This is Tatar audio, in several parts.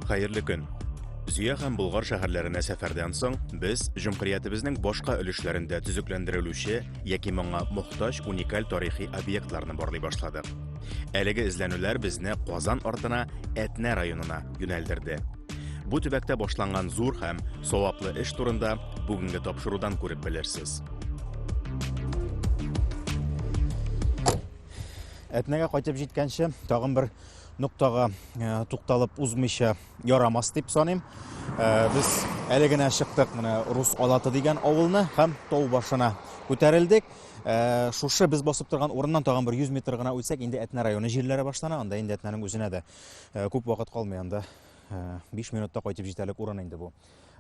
Хәерле көн. Зөя һәм Болгар шәһәрләренә сәфәрдән соң без җөмһүриятебезнең башка өлешләрендә төзекләндерелүче яки моңа мохтаҗ уникаль тарихи объектларны барлый башладык. Әлеге эзләнүләр безне Казан артына, Әтнә районына, юнәлдерде. Бу төбәктә башланган зур һәм саваплы эш турында бүгенге тапшырудан күреп белерсез. Әтнәгә кайтып җиткәнче тагын бер ноктага э, тукталып узмыйча ярамас дип саныйм. Э, без әле генә чыктык менә Рус Алаты дигән авылны һәм тау башына күтәрелдек. Э, шушы без басып торган урыннан тагын бер 100 метр гына үтсәк, инде Әтнә районы җирләре башлана, анда инде Әтнәнең үзенә дә Э, күп вакыт калмый анда. 5 э, минутта кайтып җитәрлек урын инде бу.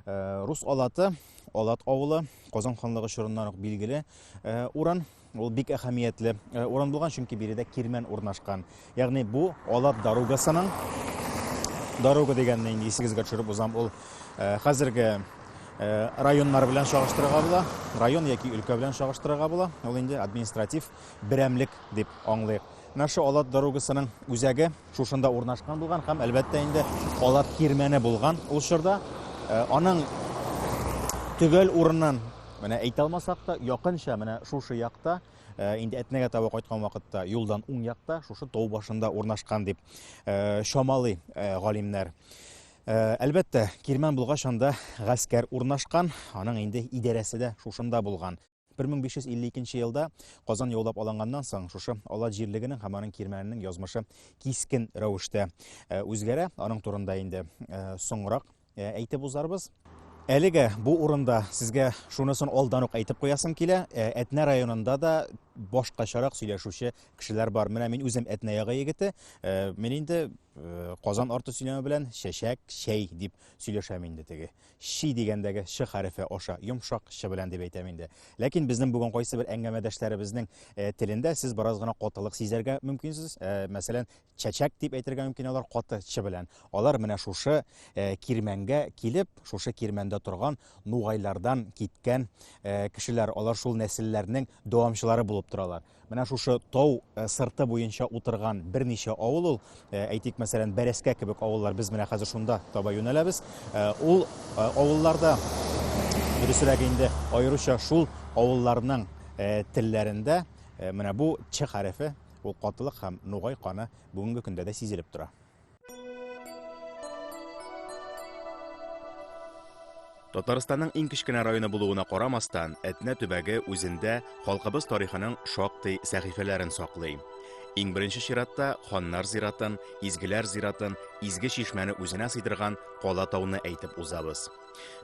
Э, рус Алаты, Алат авылы, Казан ханлыгы чорыннан ук билгеле урын. Ул бик әһәмиятле урын булган, чөнки биредә кирмән урнашкан. Ягъни бу Алат дорогасының дорога дигәнне инде исегезгә төшереп узам. Ул хәзерге Э, районнар белән чагыштырырга була район яки өлкә белән чагыштырырга була ул инде административ берәмлек дип аңлыйк Наша Алат дорогасының үзәге шушында урнашкан булган һәм әлбәттә инде Алат кирмәне булган ул чорда. Э, аның төгәл урынын менә әйтә алмасак та, якынча менә шушы якта э, инде Әтнәгә таба кайткан вакытта юлдан уң якта шушы тау башында урнашкан дип э, чамалый галимнәр. Э, әлбәттә кирмән булгач анда гаскәр урнашкан аның инде идарәсе дә шушында булган 1552 нче елда Казан яулап алынганнан соң, шушы Алат җирлегенең һәм аның кирмәненең язмышы кискен рәвештә э, үзгәрә. Аның турында инде э, соңрак э, әйтеп узарбыз. Әлегә бу урында сезгә шунысын алдан ук әйтеп куясым килә. Ә, Әтнә районында да башкачарак сөйләшүче кешеләр бар. Менә мин үзем Әтнә ягы егете. Ә, Мин инде э, Казан арты сөйләме белән чәчәк, чәй дип сөйләшәм инде теге. Чи дигәндәге Ч хәрефе аша, йомшак Ч белән дип әйтәм инде. Ләкин безнең бүген кайсы бер әңгәмәдәшләребезнең э, телендә сез бераз гына катылык сизәргә мөмкинсез. Э, мәсәлән, чәчәк дип әйтергә мөмкин алар каты Ч белән. Алар менә шушы э, кирмәнгә килеп, шушы кирмәндә торган нугайлардан киткән кешеләр, алар шул нәселләрнең дәвамчылары булып торалар. Менә шушы тау э, сырты буенча утырган берничә авыл ул, э, әйтик, мәсәлән, Бәрәскә кебек авыллар, без менә хәзер шунда таба юнәләбез. Э, ул авылларда, дөресрәк инде, аеруча шул авылларның телләрендә менә бу Ч хәрефе, ул катылык һәм нугай каны бүгенге көндә дә сизелеп тора. Татарстанның иң кечкенә районы булуына карамастан, Әтнә төбәге үзендә халкыбыз тарихының шактый сәхифәләрен саклый. Иң беренче чиратта ханнар зиратын, изгеләр зиратын, изге чишмәне үзенә сыйдырган Кала тауны әйтеп узабыз.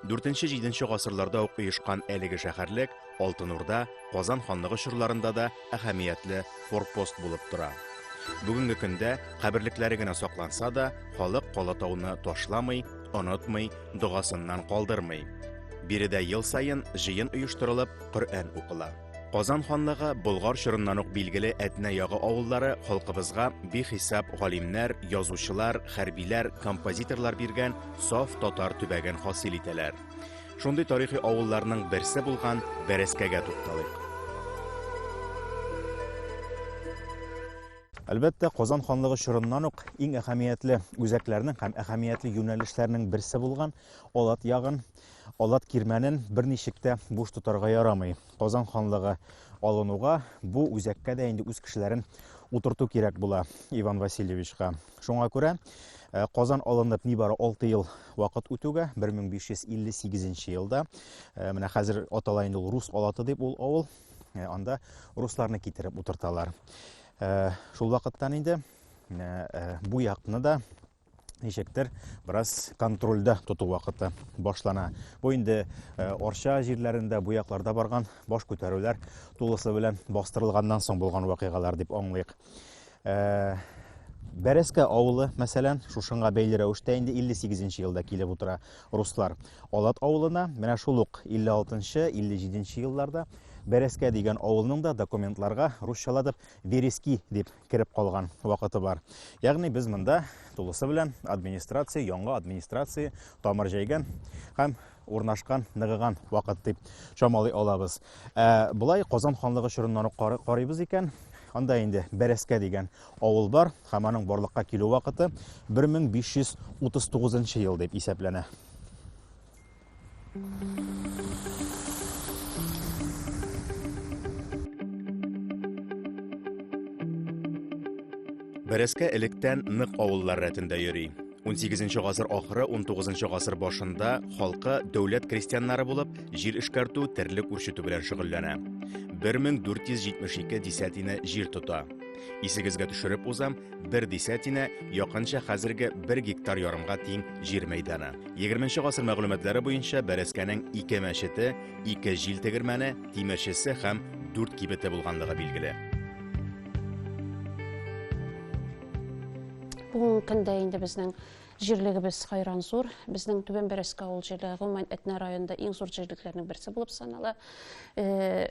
Дүртенче, җиденче гасырларда ук оешкан әлеге шәһәрлек Алтын Урда, Казан ханлыгы чорларында да әһәмиятле форпост булып тора. Бүгенге көндә каберлекләре генә сакланса да, халык Калатауны ташламый, онытмый, догасыннан калдырмый. Биредә ел саен җыен оештырылып, Коръән укыла. Казан ханлыгы Болгар чорыннан ук билгеле Әтнә ягы авыллары халкыбызга бихисап галимнәр, язучылар, хәрбиләр, композиторлар биргән саф татар төбәген хасил итәләр. Шундый тарихи авылларның берсе булган Бәрәскәгә тукталыйк. Әлбәттә, Казан ханлыгы чорыннан ук иң әһәмиятле үзәкләрнең һәм әһәмиятле юнәлешләрнең берсе булган Алат ягын Алат кирмәнен берничек тә буш тотарга ярамый. Казан ханлыгы алынуга бу үзәккә дә инде үз кешеләрен утырту кирәк була Иван Васильевичка. Шуңа күрә Э, Казан алынып нибары 6 ел вакыт үтүгә 1558 елда э, менә хәзер атала инде ул Рус Алаты дип ул авыл э, анда русларны китереп утырталар. Шул вакыттан инде бу якны да ничектер бераз контрольдә тоту вакыты башлана. Бу инде э, Орча җирләрендә, бу якларда барган баш күтәрүләр тулысы белән бастырылганнан соң булган вакыйгалар дип аңлыйк. Э, Бәрәскә авылы, мәсәлән, шушыңа бәйле рәвештә инде 58 елда килеп утыра руслар. Алат авылына менә шул ук 56-57 елларда Бәрәскә дигән авылның да документларга русчаладып Верески дип кереп калган вакыты бар. Ягъни без монда тулысы белән администрация, яңа администрация тамыр җәйгән һәм урнашкан, ныгыган вакыт дип чамалый алабыз. Ә болай Казан ханлыгы чорыннан ук карыйбыз икән, анда инде Бәрәскә дигән авыл бар һәм аның барлыкка килү вакыты 1539 ел дип исәпләнә. Бәрәскә электән нык авыллар рәтендә йөри. 18 гасыр ахыры 19 гасыр башында халкы дәүләт крестьяннары булып, җир эшкәртү, терлек үрчетү белән шөгыльләнә. 1472 десятина җир тота. Исегезгә төшереп узам, бер десятина якынча хәзерге бер гектар ярымга тиң җир мәйданы. 20 гасыр мәгълүматлары буенча Бәрәскәнең ике мәчете, ике җил тегермәне, тимерчесе һәм дүрт кибете булганлыгы билгеле. Бүгенге көндә инде безнең җирлегебез хайран зур. Безнең Түбән Бәрәскә авыл җирлеге гомумән Әтнә районында иң зур җирлекләрнең берсе булып санала. Э,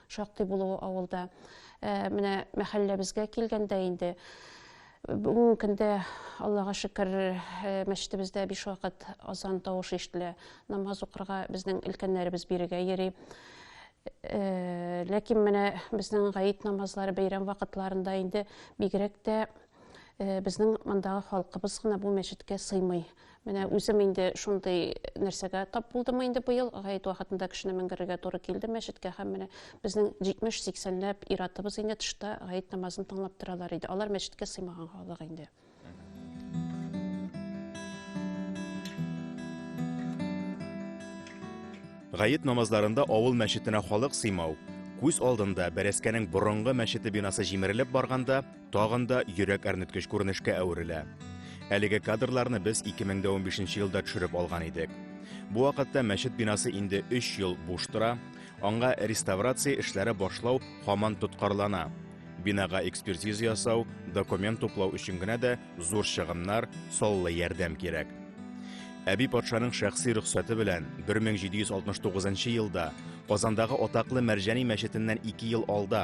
Шактый булуы авылда. Ә, менә мәхәлләбезгә килгәндә инде бүгенге көндә аллага шөкер э, мәчетебездә биш вакыт азан тавышы ишетелә намаз укырга безнең өлкәннәребез бирегә йөри э, ләкин менә безнең гаит намазлары бәйрәм вакытларында инде бигрәк тә Безнең мондагы халкыбыз гына бу мәчеткә сыймый. Менә үзем инде шундый нәрсәгә тап булдым инде быел. Гаит вакытында кешене менгерергә туры килде мәчеткә һәм менә безнең 70-80ләп иратыбыз инде тышта гаит намазын тыңлап торалар иде. Алар мәчеткә сыймаган халык инде. Гаит намазларында авыл мәчетенә халык сыймау, күз алдында бәрәскәнең борынгы мәчете бинасы җимерелеп барганда, Тагын да йөрәк әрнеткеч күренешкә әверелә. Әлеге кадрларны без 2015 елда төшереп алган идек. Бу вакытта мәчет бинасы инде 3 ел буш тора, аңа реставрация эшләре башлау һаман тоткарлана. Бинага экспертиза ясау, документ туплау өчен генә дә зур чыгымнар, саллы ярдәм кирәк. Әби патшаның шәхси рөхсәте белән 1769 елда Казандагы атаклы Мәрҗани мәчетеннән 2 ел алда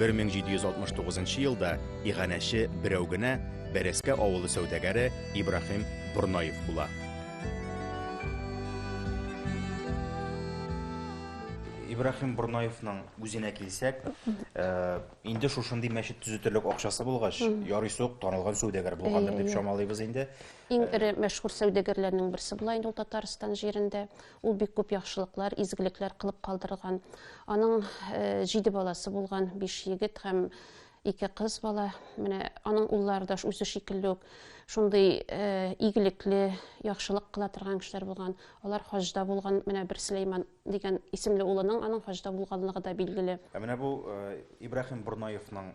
1769 нчы елда иганәче берәү генә Бәрәскә авылы сәүдәгәре Ибраһим Борнаев була. Ибраһим Борнаевның үзенә килсәк, э, инде шушындый мәчет төзетерлек акчасы булгач, ярый сук танылган сәүдәгәр булгандыр дип чамалыйбыз инде. Иң эре мәшһүр сәүдәгәрләрнең берсе була инде ул Татарстан җирендә. Ул бик күп яхшылыклар, изгелекләр кылып калдырган. Аның җиде баласы булган, биш егет һәм ике кыз бала. Менә аның уллары да үзе шикелле үк шундый э, игелекле, яхшылык кыла торган кешеләр булган. Алар хаҗда булган, менә бер Сөләйман дигән исемле улының аның хаҗда булганлыгы да билгеле. Ә менә бу э, Ибраһим Бурнаевның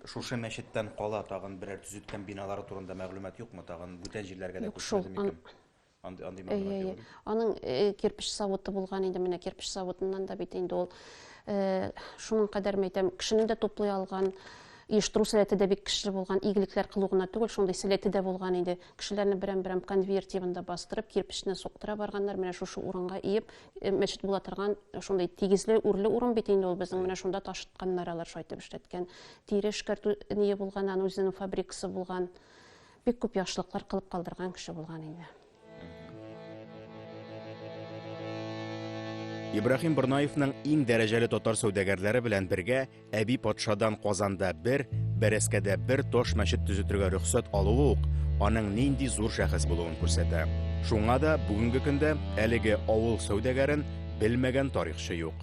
шушы мәчеттән кала тагын берәр төзеткән биналары турында мәгълүмат юкмы? Тагын бүтән җирләргә дә күчмәде микән? Әйе, әйе. Аның кирпич савыты булган инде, менә кирпич савытыннан да бит инде ул шуның кадәр мәйтәм, кешенең дә туплый алган оештыру сәләте дә бик көчле булган, игелекләр кылу гына түгел, шундый сәләте дә булган иде. Кешеләрне берәм-берәм конвейер тибында бастырып, кирпечне суктыра барганнар, менә шушы урынга иеп, мәчет була торган шундый тигезле, үрле урын бит инде ул безнең, менә шунда ташытканнар алар, шайтып эшләткән. Тире эшкәртү ние булган, аның үзенең фабрикасы булган. бик күп яхшылыклар кылып калдырган кеше булган инде. Ибрахим Борнаевның иң дәрәҗәле татар сәүдәгәрләре белән бергә әби патшадан Казанда бер, Бәрәскәдә бер таш мәчет төзетергә рөхсәт алуы ук аның нинди зур шәхес булуын күрсәтә. Шуңа да бүгенге көндә әлеге авыл сәүдәгәрен белмәгән тарихчы юк.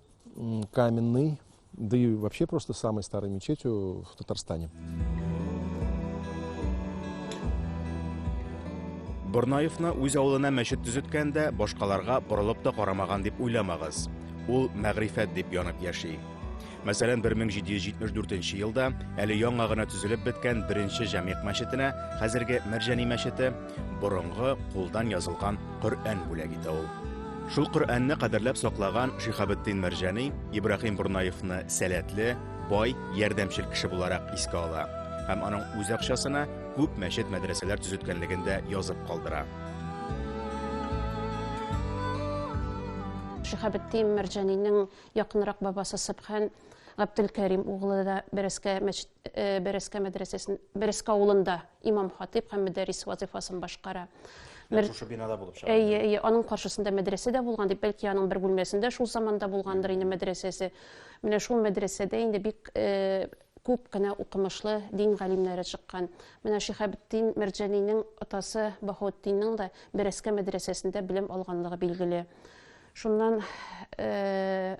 Каменный, да и вообще просто самой старой мечетью в Татарстане. Борнаевны үз авылына мәчет төзеткәндә башкаларга борылып та карамаган дип уйламагыз. Ул мәгрифәт дип янып яши. Мәсәлән, 1774 елда әле яңа гына төзелеп беткән беренче җәмигъ мәчетенә, хәзерге Мәрҗани мәчете, борынгы кулдан язылган Коръән бүләк итә ул. Шул Коръәнне кадерләп саклаган Шихабетдин Мәрҗани Ибраһим Бурнаевны сәләтле, бай, ярдәмчел кеше буларак искә ала һәм аның үз акчасына күп мәчет-мәдрәсәләр төзеткәнлеген дә язып калдыра. Шихабетдин Мәрҗанинең якынрак бабасы Сыбхан Габделкәрим углы да Бәрәскә мәчет э, Бәрәскә мәдрәсәсен Бәрәскә авылында имам-хатыйп һәм мөдәррис вазыйфасын башкара. Мер... Шушы бинада булып чыга. Әйе, әйе, аның каршысында мәдрәсә дә булган дип, бәлки аның бер бүлмәсендә шул заманда булгандыр инде мәдрәсәсе. Менә шул мәдрәсәдә инде бик э, күп кенә укымышлы дин галимнәре чыккан. Менә Шихабетдин Мәрҗәнинең атасы Баһаутдинның да Бәрәскә мәдрәсәсендә белем алганлыгы билгеле. Шуннан э,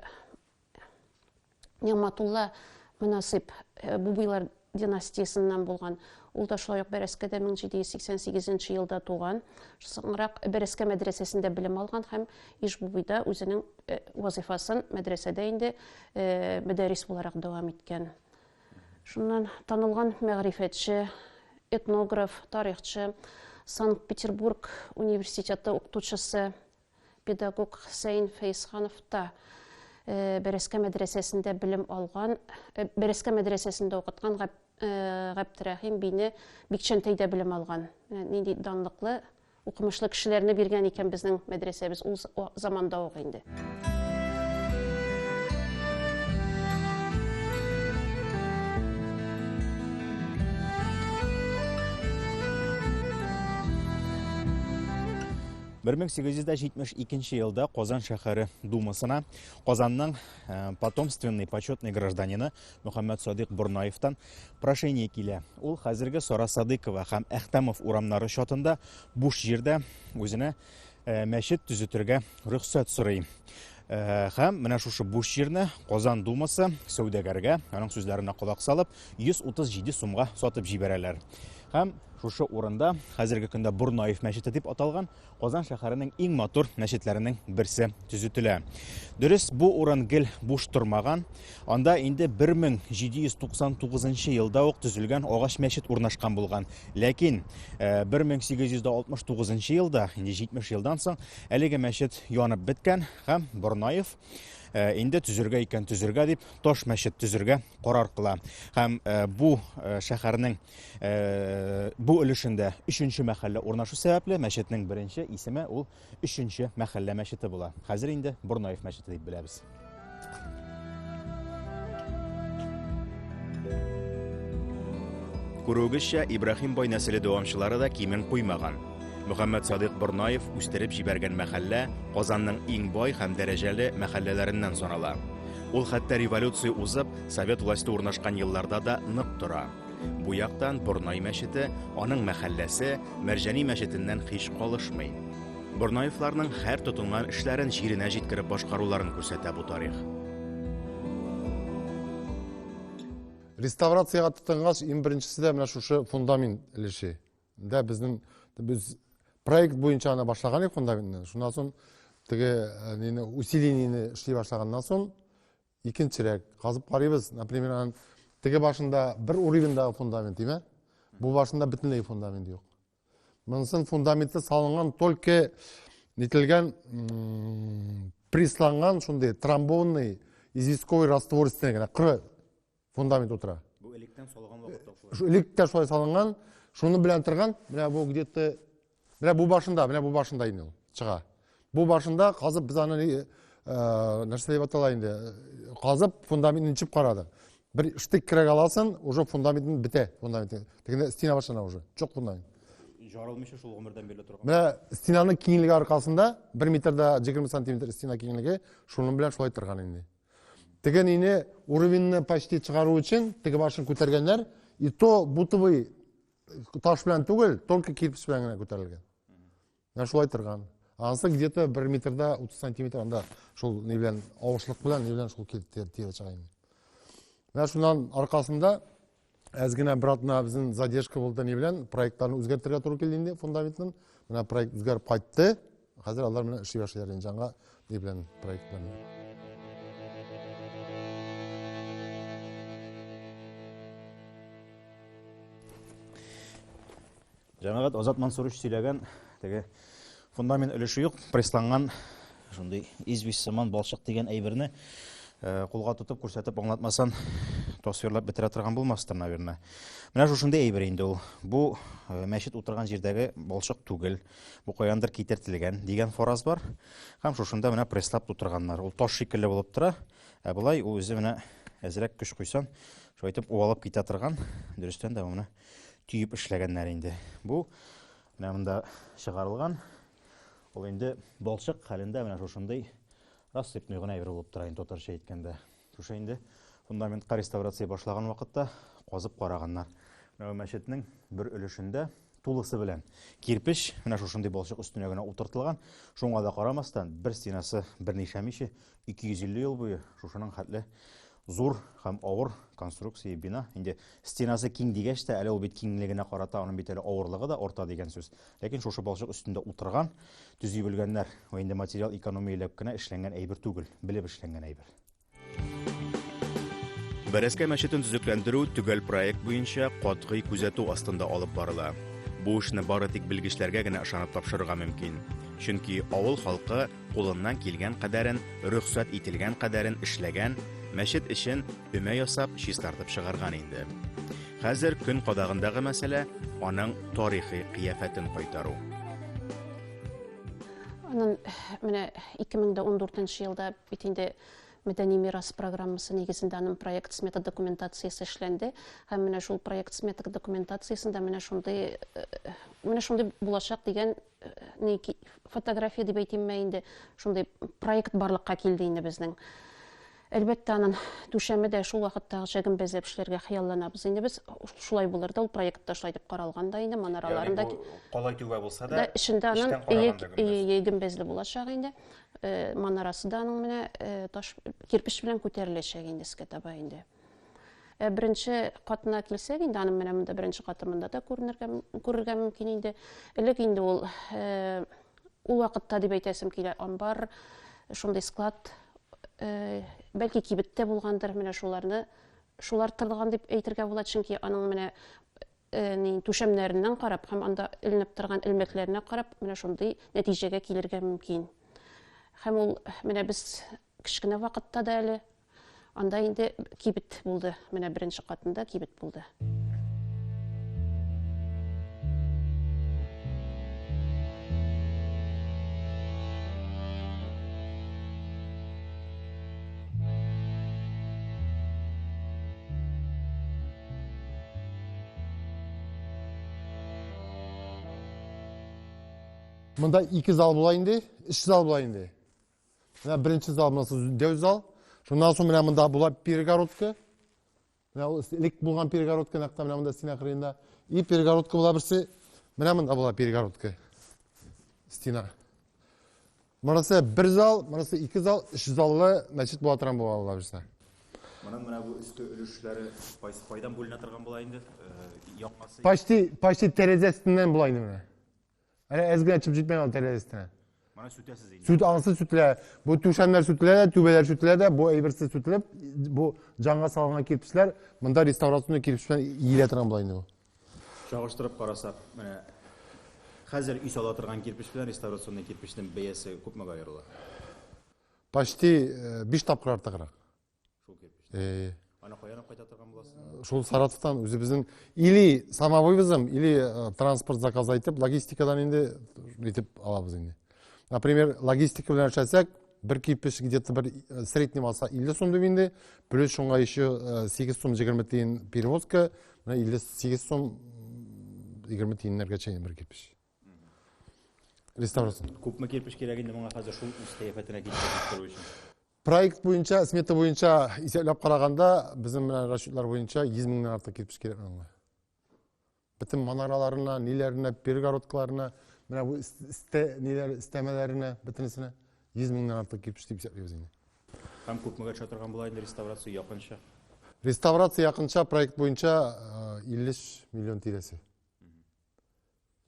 Нигъматулла Мөнасыйп э, Бубыйлар династиясеннән булган. Ул да шулай ук Бәрәскәдә 1788 елда туган. Соңрак Бәрәскә мәдрәсәсендә белем алган һәм Ишбубыйда үзенең э, вазифасын мәдрәсәдә инде э, мәдәрис буларак дәвам иткән. Шуннан танылган мәгърифәтче, этнограф, тарихчы, Санкт-Петербург университеты укытучысы Педагог Хөсәен Фәйсханов та Бәрәскә мәдрәсәсендә белем алган, Бәрәскә мәдрәсәсендә укыткан Габдрәхим бине Бикчәнтәйдә белем алган. Нинди данлыклы, укымышлы кешеләрне биргән икән безнең мәдрәсәбез ул заманда ук инде. 1872 нче елда Казан шәһәре думасына Казанның э, потомственный почетный гражданины Мөхәммәд Садыйк Борнаевтан прошение килә. Ул хәзерге Сара Садыкова һәм Әхтәмов урамнары чатында буш җирдә үзенә э, мәчет төзетергә рөхсәт сорый. Э, һәм менә шушы буш җирне Казан думасы сәүдәгәргә, аның сүзләренә колак салып, 137 сумга сатып җибәрәләр. Һәм шушы урында хәзерге көндә Бурнаев мәчете дип аталган Казан шәһәренең иң матур мәчетләренең берсе төзетелә. Дөрес, бу урын гел буш тормаган. Анда инде 1799 елда ук төзелгән агач мәчет урнашкан булган. Ләкин 1869 э, елда, инде 70 елдан соң, әлеге мәчет янып беткән һәм Борнаев Э, инде төзергә икән төзергә дип таш мәчет төзергә карар кыла һәм э, бу э, шәһәрнең бу өлешендә өченче мәхәллә урнашу сәбәпле мәчетнең беренче исеме ул өченче мәхәллә мәчете була хәзер инде борнаев мәчете дип беләбез күрүегезчә ибраһим бай нәселе дәвамчылары да кимен куймаган Мөхәммәт Садыйк Борнаев үстереп җибәргән мәхәллә Казанның иң бай һәм дәрәҗәле мәхәлләләреннән санала. Ул хәтта революция узып, совет власте урнашкан елларда да нык тора. Бу яктан Борнай мәчете, аның мәхәлләсе Мәрҗани мәчетеннән һич калышмый. Борнаевларның һәр тотынган эшләрен җиренә җиткереп башкаруларын күрсәтә бу тарих. Реставрациягә тотынгач, иң беренчесе дә менә шушы фундамент өлеше. Дә безнең без проект буенча аны башлаган идек монда инде. Шуннан соң теге нене усилениене эшли башлаганнан соң икенчерәк казып карыйбыз. Например, аның теге башында бер уровеньдагы фундамент димә. Бу башында бөтенләй фундамент юк. Монысын фундаменты салынган только нителгән присланган шундый трамбонный известковый раствор өстенә генә кыры фундамент утыра бу электән салган вакытта э, электә шулай салынган шуны белән торган менә бу где то менә бу башында менә бу башында инде ул чыга бу башында казып без аны э, нәрсә дип атала инде э, казып фундаментны ничеп карадык бер штык кирәк аласың уже фундаментын бетә фундамент тегенде стена башлана уже жоқ фундамент жарылмыйча шул гомердән беле торган менә стенаның киңлеге аркасында бер метрда егерме сантиметр стена киңлеге шуның белән шулай торган инде Теге нине уровеньны почти чыгару өчен теге башын күтәргәннәр, и то бутовый таш белән түгел, только кирпич белән генә күтәрелгән. Менә шулай торган. Анысы где-то 1 метрда 30 сантиметр анда шул ни белән авышлык белән ни белән шул киртер тирә чыга инде. Менә шуннан аркасында Әз генә бер атна безнең задержка булды ни белән, проектларны үзгәртергә туры килде инде фундаментын. Менә проект үзгәреп кайтты. Хәзер алар менә эшли башлыйлар инде жаңа ни белән проектларны. Җәмәгать Азат Мансурович сөйләгән теге фундамент өлеше юк, прессланган шундый известь сыман балчык дигән әйберне э, кулга тотып күрсәтеп аңлатмасан тасвирлап бетерә торган булмастыр, наверное. Менә шушындый әйбер инде ул. Бу э, мәчет утырган җирдәге балчык түгел, бу каяндыр китертелгән дигән фораз бар. Һәм шушында менә пресслап тутырганнар. Ул таш шикелле булып тора. Ә былай ул үзе менә әзрәк көч куйсан, шулайтып уалып китә торган. Дөрестән дә менә төеп эшләгәннәр инде. Бу менә монда чыгарылган. Ул инде балчык хәлендә менә шушындый рассыпной гына әйбер булып тора инде татарча әйткәндә. Шушы инде фундаментка реставрация башлаган вакытта казып караганнар. Менә мәчетнең бер өлешендә тулысы белән кирпеч менә шушындый балчык өстенә генә утыртылган. Шуңа да карамастан, бер стенасы берничә миче 250 ел буе шушының хәтле зур һәм авыр конструкция бина. Инде стенасы киң дигәч тә, әле ул бит киңлегенә карата аның бит әле авырлыгы да орта дигән сүз. Ләкин шушы балчык өстендә утырган, төзи белгәннәр, ва инде материал экономияләп кенә эшләнгән әйбер түгел, белеп эшләнгән әйбер. Бәрәскә мәчетен төзекләндерү төгәл проект буенча катгый күзәтү астында алып барыла. Бу эшне бары тик белгечләргә генә ышанып тапшырырга мөмкин. Чөнки авыл халкы кулыннан килгән кадәрен, рөхсәт ителгән кадәрен эшләгән, мәчет эчен өмә ясап, чистартып чыгарган инде. Хәзер көн кадагындагы мәсьәлә аның тарихи кыяфәтен кайтару. Анын менә 2014 елда бит инде мәдәни мирас программасы нигезендә аның проект смета документациясе эшләнде һәм менә шул проект смета документациясендә менә шундый э, менә шундый булачак дигән не фотография дип әйтимме инде шундый проект барлыкка килде инде безнең әлбәттә анын түшәме дә шул вакыттагыча гөмбәзләп эшләргә хыялланабыз инде без шулай булыр да ул проект та шулай дип каралган да инде манараларын да калай түбә булса да эчендә анын гөмбәзле булачак инде манарасы да аның менә таш кирпеч белән күтәреләчәк инде искә таба инде Ә беренче катына килсәк, инде аның менә монда беренче каты монда да күренергә күрергә мөмкин инде. Элек инде ул э, ул вакытта дип әйтәсем килә, амбар, шундый склад э, бәлки кибеттә булгандыр, менә шуларны шулар тырган дип әйтергә була, чөнки аның менә э, ни түшәмнәреннән карап һәм анда эленеп торган элмәкләренә карап, менә шундый нәтиҗәгә килергә мөмкин. Һәм ул менә без кечкенә вакытта да әле Анда инде кибет булды. Менә беренче катында кибет булды. Монда ике зал була инде, өч зал була инде. Менә беренче зал монысы дәү зал. Шуннан соң менә монда була перегородка. Менә ул элек булган перегородка нәкъ менә монда стена кырыенда. И перегородка була берсе. Менә монда була перегородка. Стена. Монысы бер зал, монысы ике зал, өч заллы мәчет була торган була алла бирсә. Моның менә бу өске өлешләре кайсы кайдан бүленә торган була инде? Э, Якмасы. Почти почти тәрәзәсеннән була инде менә. Әнә әз генә чып җитмәгән ул тәрәзә өстенә. Моны сүтәсез инде. Сүт анысы сүтелә. Бу түшәмнәр сүтелә дә, түбәләр сүтелә дә, бу әйберсез сүтелеп, бу җанга салынган кирпечләр, монда реставрационный кирпеч белән иелә торган була инде бу. Чагыштырып карасак, менә хәзер өй сала торган кирпеч белән реставрационный кирпечнең бәясе күпмегә аерыла? Почти 5 э, тапкыр артыграк. Аны каян кайта торган буласың? Шул Саратовтан үзебезнең или самовывозом, или э, транспорт заказ итеп, логистикадан инде итеп алабыз инде. Например, логистика белән эшләсәк, бер кипеш где-то бер э, средний алса 50 сум дип инде, плюс шуңа еще 8 э, сум 20 тиен перевозка, менә 58 сум 20 тиеннәргә чейин бер кипеш. Реставрация. Күпме кирпич кирәк инде моңа хәзер шул үз кыяфәтенә китерү өчен? Проект буенча, смета буенча исәпләп караганда, безнең менә расчетлар буенча 100 меңнән артык кирпеч кирәк аңа. Бөтен манараларына, ниләренә, перегородкаларына, менә бу истә ниләр истәмәләренә, бөтенесенә 100 меңнән артык кирпеч дип исәплибез инде. Һәм күпмегә төшә торган була инде реставрация якынча? Реставрация якынча проект буенча 50 миллион тирәсе.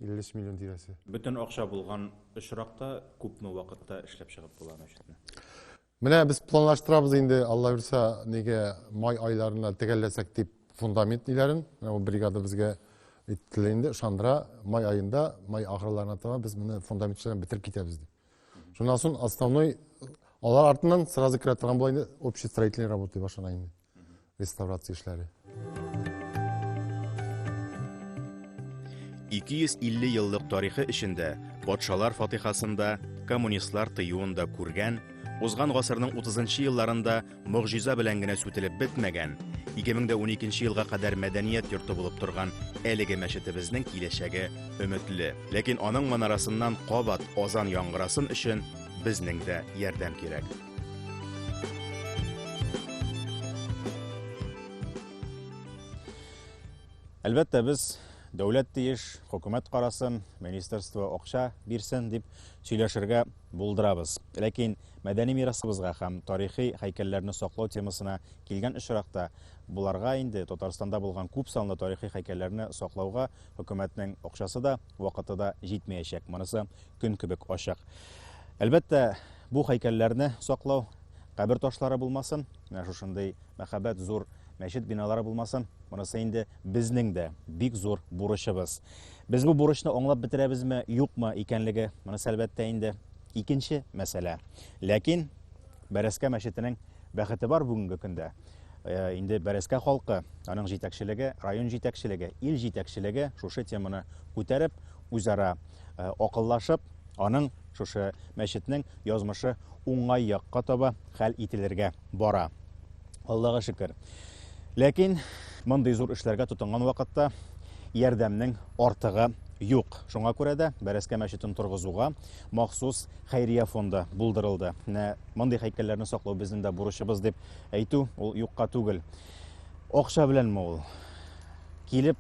53 миллион тирәсе. Бөтен акча булган очракта күпме вакытта эшләп чыгып була мәчетне? Менә без планлаштырабыз инде, Алла бирсә, неге май айларына тегәлләсәк дип фундамент ниләрен, менә ул бригада безгә итте инде, ышандыра, май аенда, май ахырларына таба без моны фундамент эшләрен бетереп китәбез дип. Шуннан соң основной алар артыннан сразу керә торган була инде общий строительный работа башлана инде. Реставрация эшләре. 250 еллык тарихы эчендә патшалар фатихасында, коммунистлар тыюында күргән, узган гасырның 30 елларында Могҗиза белән генә сүтелеп бетмәгән, 2012 елга кадәр мәдәният йорты булып торган әлеге мәчетебезнең киләчәге өметле. Ләкин аның манарасыннан кабат азан яңгырасын өчен безнең дә ярдәм кирәк. Әлбәттә, без дәүләт тиеш, хөкүмәт карасын, министерство акча бирсен дип сөйләшергә булдырабыз. Ләкин Мәдәни мирасыбызга һәм тарихи һәйкәлләрне саклау темасына килгән очракта, боларга инде Татарстанда булган күп санлы тарихи һәйкәлләрне саклауга хөкүмәтнең акчасы да, вакыты да җитмәячәк, монысы көн кебек ачык. Әлбәттә, бу һәйкәлләрне саклау, кабер ташлары булмасын, менә шушындый мәһабәт зур мәчет биналары булмасын, монысы инде безнең дә бик зур бурычыбыз. Без бу бурычны аңлап бетерәбезме, юкмы икәнлеге, монысы әлбәттә инде Икенче мәсьәлә. Ләкин Бәрәскә мәчетенең бәхете бар бүгенге көндә. Э, инде Бәрәскә халкы, аның җитәкчелеге, район җитәкчелеге, ил җитәкчелеге шушы теманы күтәреп, үзара э, акыллашып, аның шушы мәчетнең язмышы уңай якка таба хәл ителергә бара. Аллага шөкер. Ләкин мондый зур эшләргә тотынган вакытта ярдәмнең артыгы юк. Шуңа күрә дә Бәрәскә мәчетен торгызуга махсус хәйрия фонды булдырылды. Менә мондый һәйкәлләрне саклау безнең дә бурычыбыз дип әйтү ул юкка түгел. Акча беләнме ул? Килеп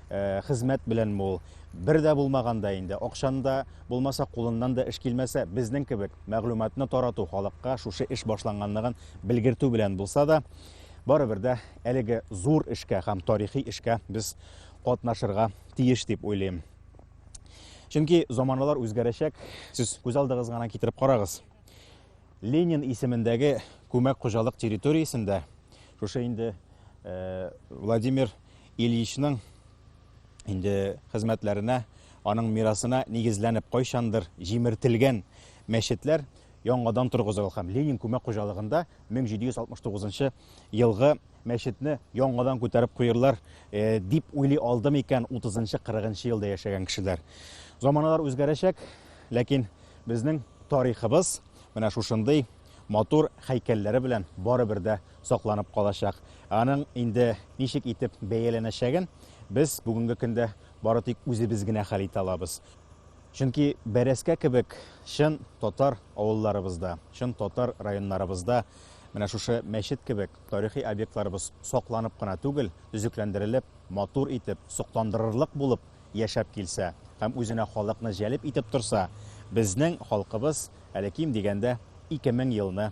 э, хезмәт беләнме ул? Бер дә булмаганда инде, акчаны да булмаса, кулыннан да эш килмәсә, безнең кебек мәгълүматны тарату халыкка шушы эш башланганлыгын Белгертү белән булса да, барыбер дә әлеге зур эшкә һәм тарихи эшкә без катнашырга тиеш дип уйлыйм. Чөнки заманалар үзгәрәчәк, сез күз алдыгыз гына китереп карагыз. Ленин исемендәге күмәк хуҗалык территориясендә шушы инде э, Владимир Ильичның инде хезмәтләренә, аның мирасына нигезләнеп кайчандыр җимертелгән мәчетләр яңадан торгызылу һәм Ленин күмәк хуҗалыгында 1769 елгы мәчетне яңадан күтәреп куерлар э, дип уйлый алдым икән 30-40 елда яшәгән кешеләр. Заманалар үзгәрәчәк, ләкин безнең тарихыбыз менә шушындый матур хәйкәлләре белән барыбер дә сакланып калачак. Аның инде ничек итеп бәяләнәчәген без бүгенге көндә бары тик үзебез генә хәл итә алабыз. Чөнки бәрәскә кебек чын татар авылларыбызда, чын татар районнарыбызда менә шушы мәчет кебек тарихи объектларыбыз сакланып кына түгел, төзекләндерелеп, матур итеп, сокландырырлык булып яшәп килсә һәм үзенә халыкны җәлеп итеп торса, безнең халкыбыз әле ким дигәндә 2000 елны